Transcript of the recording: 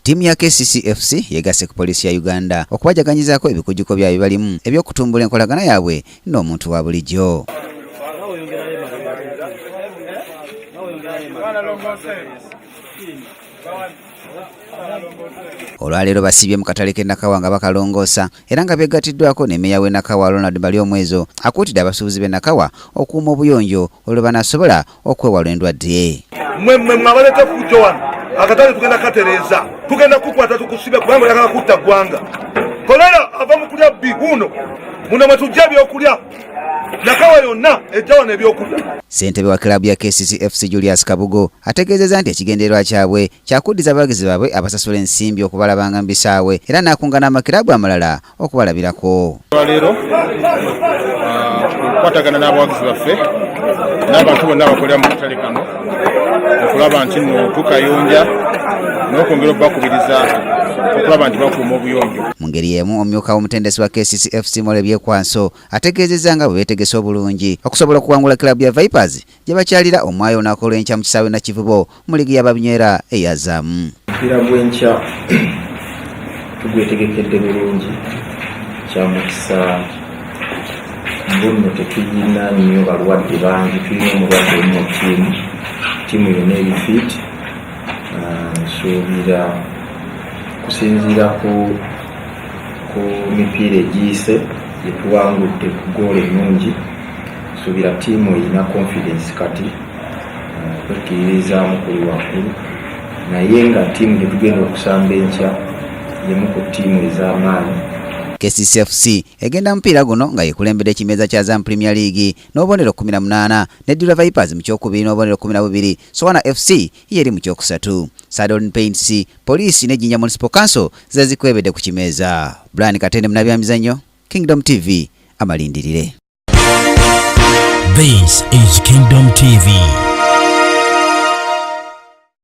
Ttiimu ya KCCFC yegasse ku poliisi ya Uganda okubajaganyizaako ebikujjuko bya bibalimu eby'okutumbula enkolagana yaabwe n'omuntu wa bulijjo. olwaleero basibye mu katale k'e nakawa nga bakalongoosa era nga beegatiddwako ne meeya w'e nakawa ronald mali omwezo akuutidde abasuubuzi b'e nakawa okuuma obuyonjo olwo banasobola okwewala endwadde mwe mwe mwabaleta kujja wano akatale tugenda katereeza tugenda kukwata tukusibe kubanga oyagala kutta ggwanga kolera ava mu kulya bbi wuuno muno mwe tujja ebyokulya nakawa yonna ejja wano ebyokulya ssentebe wa kilabu ya kccfc julius kabugo ategeezeza nti ekigendererwa kyabwe kyakuddiza abawagizi baabwe abasasula ensimbi okubalabanga mu bisaawe era n'akungana amakilabu amalala okubalabirako olwaleero ah, okukwatagana n'abawagizi baffe n'abantu bonna abakolera mu katale kano okulaba nti no tukayonja n'okwongera okubakubiriza okulaba nti bakuuma obuyonjo mu ngeri y'emu omumyuka w'omutendesi wa kccfc mole byekwanso ategeezezza nga bwe beetegese obulungi okusobola okuwangula kilabu ya vipers gye bakyalira omwayo olunaku olw'enkya mu kisaawe nakivubo mu liigi ya babinywera eyazaamu omupiira gw'enkya tugwetegekedde bulungi kyamukisa mbonno tetuyina nnyo balwadde bangi tulina omulwadde omu mu tiimu tiimu yona eri fit ah, nsuubira kusinziira ku mipiira egiyise gyetuwangudde ku goola ennungi Suubira ttiimu erina confidence kati kwekkiririzaamu kuli waggulu naye nga ttiimu gye tugenda okusamba enkya yemu ku ttiimu ez'amaanyi KCCFC egenda mupiira guno nga yekulembedde ekimeeza kya Zam Premier League n'obubonero 18 ne Dula Vipers mu kyokubiri n'obubonero 12 Sowana FC yeri mu kyokusatu Saddle Paints Police ne Jinja Municipal Council zezikwebedde ku kimeeza Brian Katende munabyamizannyo Kingdom TV amalindirire. This is Kingdom TV.